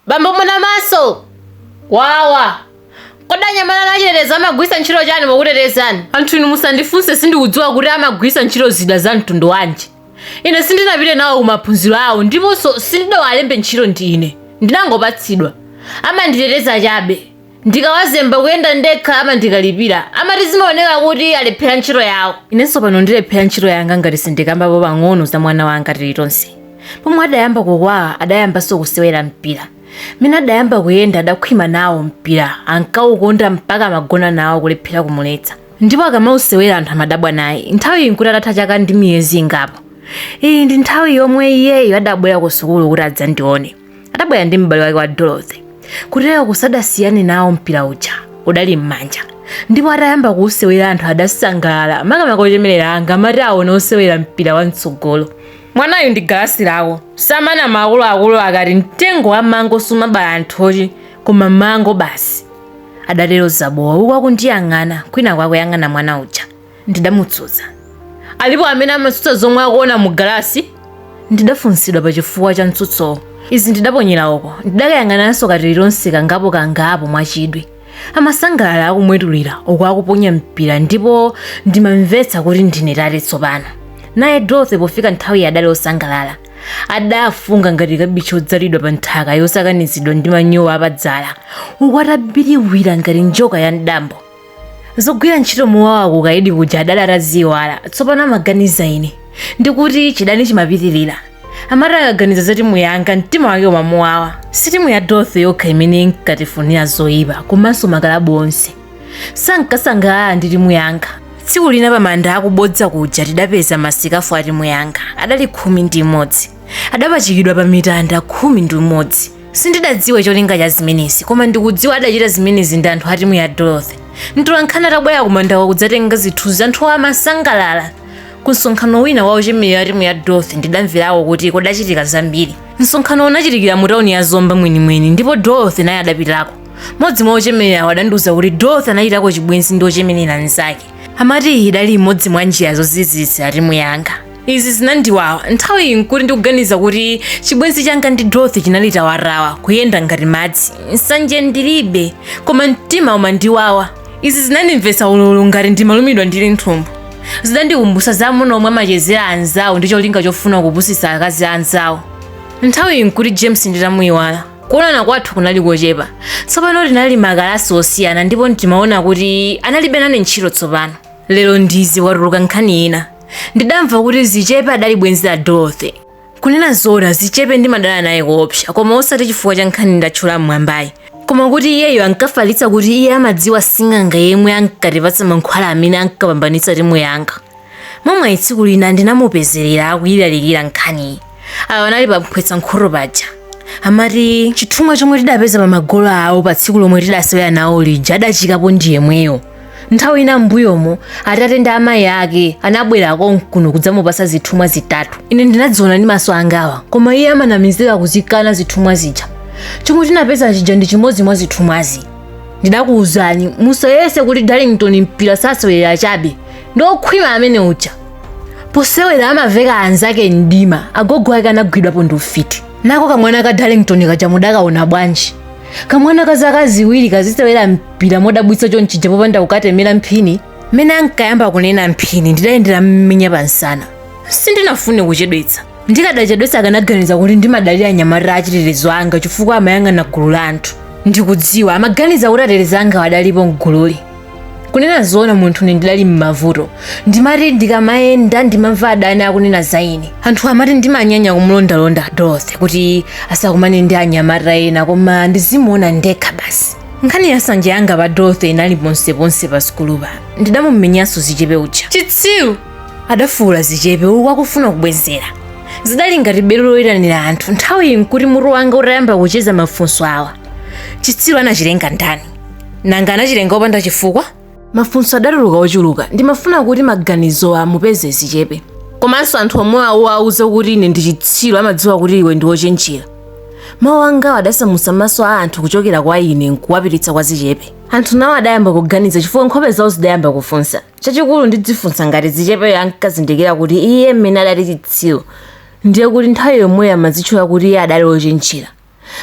Bambo muna maso! Wawa! Kodi anyamata anu achitetezo amagwiritsa ntchito chani pokutetezani? Anthu inu musandifunse sindikudziwa kuti amagwiritsa ntchito zida za mtundu wanji. Ine sindinapite nawo ku maphunziro awo ndiponso sindidawalembe ntchito ndi ine. Ndinangopatsidwa. Amanditeteza chabe. Ndikawazemba kuyenda ndekha amandikalipira. Amati zimaoneka kuti alephera ntchito yawo. Inenso pano ndilephera ntchito yanga ngati sindikambapo pang'ono za mwana wanga Tilitonse. Pomwe adayamba kukwawa adayambanso kusewera mpira. Mmene adayamba kuyenda adakhwima nawo mpira, ankaukonda mpaka amagona nawo kulephera kumuletsa. Ndipo akamausewera anthu amadabwa naye. Nthawiyi n'kuti atatha chaka ndi miyezi ingapo. Iyi ndi nthawi yomwe iyeyo adabwera kusukulu kuti adzandione. adabwera ndi m'bale wake wa dorothy kuteroku sadasiyane nawo mpira uja udali m'manja ndipo atayamba kuwusewera anthu adasangalala makamaka ochemerera anga amati aona osewera mpira wa mtsogolo mwanayu ndi galasi lako samanama akuluakulu akati mtengo wa mango sumabala nthochi koma mango basi adatero zabowa uku akundiyang'ana kwinaku akuyang'ana mwana uja ndidamutsutsa. Alipo amene amatsutsa zomwe akuona mu galasi? Ndidafunsidwa pa chifukwa cha mtsutsowo. Izi ndidaponyera uko. Ndidakayang'ananso ka Tilitonse kangapo kangapo mwachidwi. Amasangalala akumwetulira uku akuponya mpira ndipo ndimamvetsa kuti ndine tate tsopano. Naye Dorothy pofika nthawiyi adali osangalala. Adafunga ngati kabichi odzalidwa pa nthaka yosakanizidwa ndi manyowa apadzala uku atabiriwira ngati njoka ya mdambo. zogwira ntchito mowawa kukaidi kuja adali ataziyiwala tsopano amaganiza ine ndikuti chidani chimapitirira amati akaganiza za timu yanga mtima wake umamuwawa si timu ya dorothy yokha imene inkatifunira zoyipa komanso makalabu onse sankasangalala ndi timu yanga tsiku lina pamanda akubodza kuja tidapeza masikafu a timu yanga adali khumi ndi imodzi adapachikidwa pa mitanda khumi ndi umodzi Sindidadziwe cholinga cha zimenezi, koma ndikudziwa adachita zimenezi ndi anthu a timu ya Dorothy. Mtolankhani atabwera kumandako kudzatenga zithunzi, anthuwo amasangalala. Ku msonkhano wina wa ochemerera a timu ya Dorothy ndidamverako kuti kudachitika zambiri. Msonkhano unachitikira mu tauni ya Zomba mwenimweni ndipo Dorothy naye adapitako. Mmodzi mwa ochemererawo adandiuza kuti Dorothy anachitako chibwenzi ndi ochemerera mnzake. Amati iyi idali imodzi mwa njira zozizitsira timu yanga. izi zinandiwawa nthawiyi nkuti ndikuganiza kuti chibwenzi changa ndi dorothy chinali tawatawa kuyenda ngati madzi nsanje ndilibe koma mtima umandiwawa izi zinandimvetsa ululu ngati ndimalumidwa ndi linthumbu zidandikumbutsa za amuna omwe amachezera anzawo ndi cholinga chofuna kupusitsa akazi a anzawo nthawiyi nkuti james nditamuyiwala kuonana kwathu kunali kochepa tsopano tinali makalasi osiyana ndipo ndimaona kuti analibe nane ntchito tsopano lero ndizi kwatuluka nkhani ina ndidamva kuti zichepe adali bwenzi la dorothy kunena zoona zichepe ndimadana naye koopsa koma osati chifukwa cha nkhani ndatchula mmwambayi koma kuti iyeyo ankafalitsa kuti iye amadziwa sing'anga yemwe ankatipatsa mankhwala amene ankapambanitsa timu yanga momwe tsiku lina ndinamupezerera akuyilalikira nkhaniyi awo anali pamphwetsa nkhoto paja amati chithumwa chomwe tidapeza pa magolo awo pa tsiku lomwe tidasewera nawo lija adachikapo ndi yemweyo nthawi ina m'mbuyomo atate ndi amayi ake anabwera konkuno kudzamupasa zithumwa zitatu ine ndinadziona ndi maso angawa koma iye amanamizira kuzikana zithumwa zija chomwe tinapeza chija ndi chimodzi mwa zithumwazi ndidakuwuzani musayese kuti darlington mpira sasewera chabe ndi okhwima amene uja Posewera amaveka anzake mdima agogo ake anagwidwapo ndi ufiti nako kamwana ka darlington kaja mudakaona bwanji kamwana ka zaka ziwiri kazisewera pira modabwitsa chonchija popanda kukatemera mphini mmene ankayamba kunena mphini ndidayendera mmenya pamsana sindinafune kuchedwetsa ndikadachedwetsa akanaganiza kuti ndimadalira anyamata achitetezo anga chifukwa amayang'ana gulu la anthu ndikudziwa amaganiza kuti atetezi anga adalipo mgululi kunena zoona munthune ndidali m'mavuto ndimati ndikamayenda ndimamva adani akunena za ine anthu amati ndimanyanya kumulondalonda dorothy kuti asakumane ndi anyamata ena koma ndizimuona ndekha basi nkhani ya nsanje yanga pa dorothy inali ponseponse pa sukulupa ndidamumenyanso zichepe uja chitsiru adafuula zichepe uku akufuna kubwezera zidali ngati belo loyitanira anthu nthawiyi nkuti mutu wanga utayamba kucheza mafunso awa chitsiru anachilenga ndani nanga anachilenga opanda chifukwa mafunso adatuluka ochuluka ndimafuna kuti maganizo amupeze zichepe komanso anthu omwe wawauza kuti ine ndi chitsiru amadziwa kuti iwe ndi wochenjera mawu angawo adasamutsa maso a anthu kuchokera kwa ine nkuwapititsa kwa zichepe anthu nawo adayamba kuganiza chifukwa nkhope zawo zidayamba kufunsa chachikulu ndidzifunsa ngati zichepeyo ankazindikira kuti iye mmene adati chitsiru ndiye kuti nthawi yomweyo amadzitcha kuti iye adali wochenjera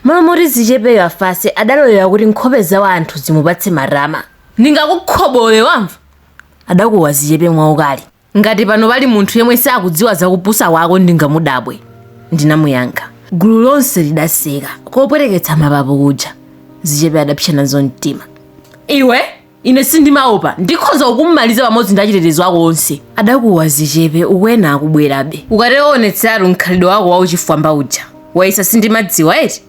M'malo moti zichepeyo afase adalolera kuti nkhope za wanthu zimupatse makwama. Ndingakukhobole wamva? adakuwa Zichepe mwaukali. Ngati pano pali munthu yemwe sakudziwa za kupusa kwako ndingamudabwe, ndinamuyankha. Gulu lonse lidaseka kopweteketsa mapapu kuja. Zichepe adapsa nazo mtima. Iwe! Ine sindimaopa. Ndikhoza kukumaliza pamodzi ndi achitetezo ako onse. Adakuwa zichepe uku ena akubwerabe. Ukatero uonetseratu mkhalidwe wako wauchifwamba uja. Wayesa sindimadziwa eti?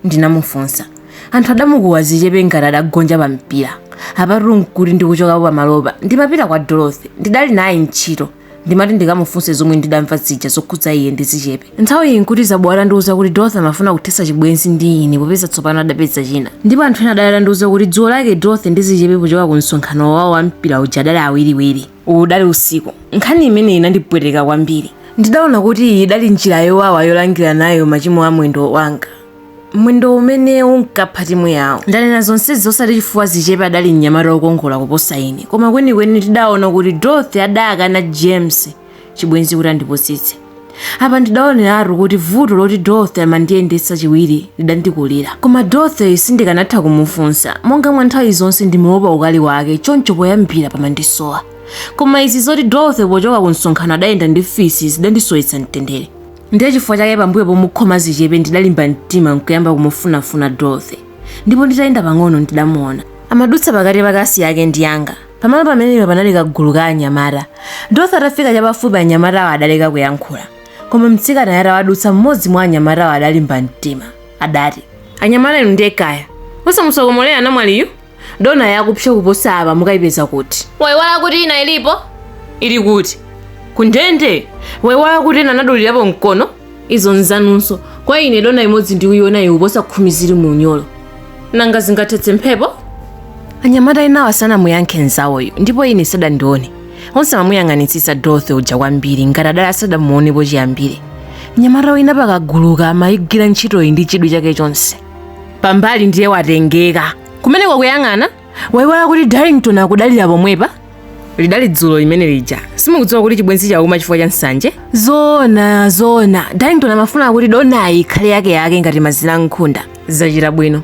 Ndinamufunsa. Anthu adamukuwa zichepe ngati adagonja pampira. Apatu n'kuti ndikuchokapo pamalopa. Ndimapita kwa Dorothy. Ndidali naye ntchito. ndimati ndikamufunse zomwe ndidamva zija zokhudza iye ndi zichepe nthawi iyi nkuti zabo atandiuza kuti dorothy amafuna kuthetsa chibwenzi ndi ine popeza tsopano adapeza china ndipo anthu ena adali atandiuza kuti dzulo lake dorothy ndi zichepe pochoka ku msonkhano wawo wa mpira uja adali awiriwiri uwu udali usiku nkhani imeneyi inandipweteka kwambiri ndidaona kuti iyi idali njira yowawa yolangira nayo machimo a mwendo wanga mwendo umene unkapha timu yawo ndanena zonsezi osati chifukwa zichepe adali mnyamata wokongola kuposa ine koma kwenikweni tidaona kuti dorothy adayakana james chibwenzi kuti andipusitse apa ndidaoneratu kuti vuto loti dorothy amandiyendetsa chiwiri lidandikulira koma dorothy sindikanatha kumufunsa monga mwa nthawi zonse ndimaopa ukali wake choncho poyambira pamandisowa koma izi zoti dorothy pochoka ku msonkhano adayenda ndi fisi zidandisowetsa mtendere Ndiye chifukwa chake pambuyo pomukhoma zichepe ndidalimba mtima nkuyamba kumufunafuna Dorothy. Ndipo nditayenda pang'ono ndidamuona. Amadutsa pakati pa kalasi yake ndi yanga. Pamalo pamenepa panali kagulu ka anyamata. Dorothy atafika chapafupi anyamatawa adaleka kuyankhula. Koma mtsikanayo atawadutsa mmodzi mwa anyamatawa adalimba mtima. Adati. Anyamata inu ndiye kaya. Osamutsokomolera namwaliyu. dona yakupsa kuposa apa mukayipeza kuti waiwala kuti ina ilipo ili kuti kundende waiwala kuti ena anadulirapo mkono izo nzanunso kwa ine dona imodzi ndikuyiona ikuposa khumi zili mu unyolo nanga zingathetse mphepo anyamata enawa sanamuyankhe nzawoyo ndipo ine sadandione onse amamuyang'anitsitsa dorothy uja kwambiri ngati adali asadamuonepo chiyambire mnyamata wina pakaguluka amayigwira ntchitoyi ndi chidwi chake chonse pambali ndiye watengeka kumeneko akuyang'ana waiwala kuti darlington akudalira pomwepa lidali dzulo limene lija simukudziwa kuti chibwenzi chauma chifukwa cha nsanje zoona zoona darlington amafuna kuti donayi ikhale yake yake ngati mazira a nkhunda zachita bwino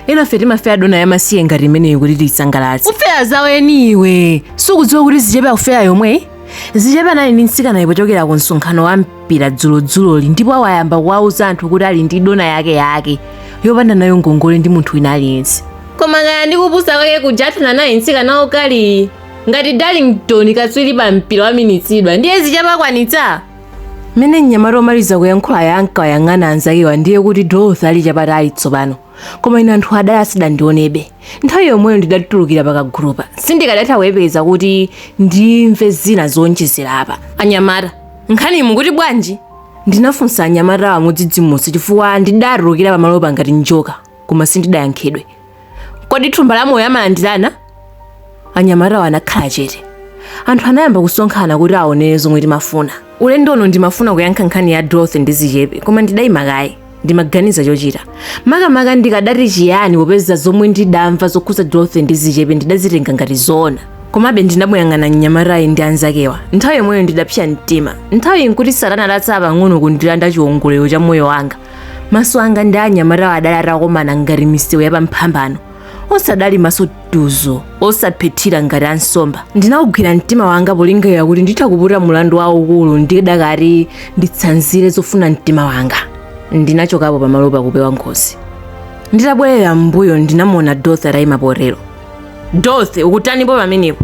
enafe timafera dona yamasiye ngati imeneyi kuti tiyisangalatse ufera zaweni iwe sukudziwa kuti zichepe akufera yomweyi zichepe anali ndi mtsikanayo pochokera ku msonkhano wa mpira dzulodzuloli ndipo awayamba kuwauza anthu kuti ali ndi dona yake yake yopanda nayo ngongole ndi munthu wina aliyense koma kaya ndi kupusa kwake kuja athana naye mtsikana okaliyu ngati darlington katswiri pa mpira waminitsidwa ndiye zichepe akwanitsa mmene mnyamata omaliza kuyankhulayu ankawayang'ana anzakewa ndiye kuti dorothy ali chapatali tsopano koma ine anthu adali asadandionebe nthawi yomweyo ndidatulukira pakagulupa sindikadatha kuyepeza kuti ndimve zina zowonjezera apa anyamata nkhani mukuti bwanji ndinafunsa anyamatawa modzidzimutsa chifukwa ndidatulukira pamalopa ngati njoka koma sindidayankhidwe kodi thumba la moyo amalandirana anyamatawo anakhala chete anthu anayamba kusonkhana kuti aonere zomwe timafuna ulendo uno ndimafuna kuyankha nkhani ya dorothy ndi zichepe koma ndidayima kaye ndimaganiza chochita makamaka ndikadati chiyani popeza zomwe ndidamva zokhudza dorothy ndi zichepe ndidazitenga ngati zoona komabe ndinamuyang'ana mnyamatayi ndi anzakewa nthawi yomweyo ndidapsa mtima nthawiyi nkuti satana adatsala pang'ono kundilanda chiwongolero cha moyo wanga maso anga ndi anyamatawo adali atakomana ngati misewu yapamphambano onse adali maso tuzo osaphethira ngati ansomba ndinawugwira mtima wanga polingalira kuti nditha kuputa mulandu waukulu ndidakati nditsanzire zofuna mtima wanga ndinachokapo pamalopa kupewa ngozi nditabwerera m'mbuyo ndinamuona dorothy atayima potero dorothy ukutanipo pamenepo